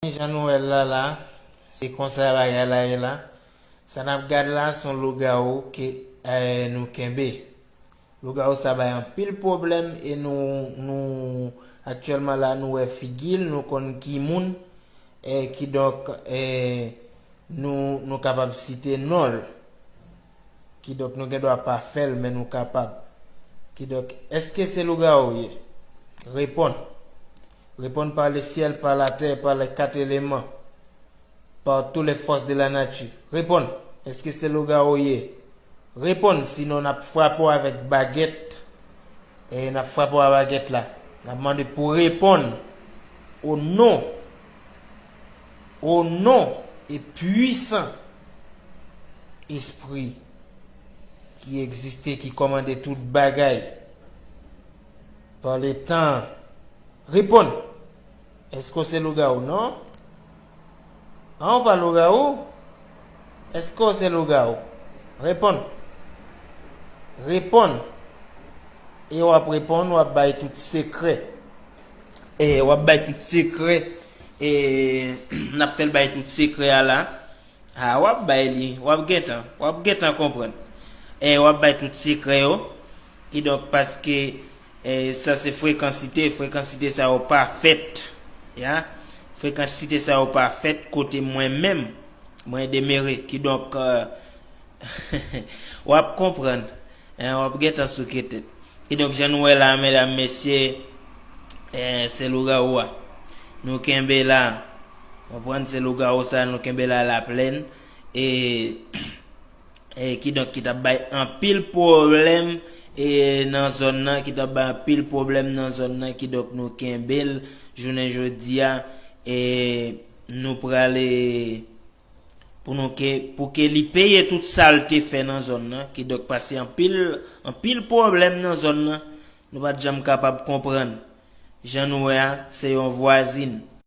Mezanmi jan nou wèl la la se konsa bagay la ye la sa nap gad la son lougawou ke nou kenbe lougawou sa bay anpil pwoblèm e nou nou aktyèlman la nou wè figil nou konn ki moun kidonk nou nou kapab site nonl kidonk nou gendwa pa fèl men nou kapab kidonk eske se lougawou ye reponn. Reponn par le ciel, par la terre, par les quatre éléments, par tout les forces de la nature. Reponn! Eske se lougawou w ye? Reponn! Sinon n ap frape w avèk bagèt. E n ap frape w a bagèt la. N ap mande pou w reponn o non, o non e pwisan Espri ki egziste, ki kòmande tout bagay. Pran le tan. Reponn! Eske w se lougawou? Non. An ou pa lougawou? Eske w se lougawou? Reponn! Reponn! E w ap reponn, w ap bay tout sekrè. E w ap bay tout sekrè. E n ap fè l bay tout sekrè a la. Haa wap bay li wap gentan wap gentan konprann eh wap bay tout sekrè yo kidonk paske eh sa se frekansite frekansite sa yo pa fèt ya frekansite sa yo pa fèt kote mwen menm mwen demere kidonk Wap konprann hein wap gentan souke tèt. Kidonk jan nou wè la medam mesye se lougawou a nou kenbe la konprann se lougawou sa nou kenbe la la plèn e e kidonk ki tap bay anpil pwoblèm e nan zòn nan ki tap bay anpil pwoblèm nan zòn nan kidonk nou kenbel jounen jodia e nou prale pou nou ke pou ke li peye tout sal te fè nan zòn nan ki dòk pase anpil anpil pwoblèm nan zòn nan nou pat janm kapab konprann jan nou wè a se yon vwazin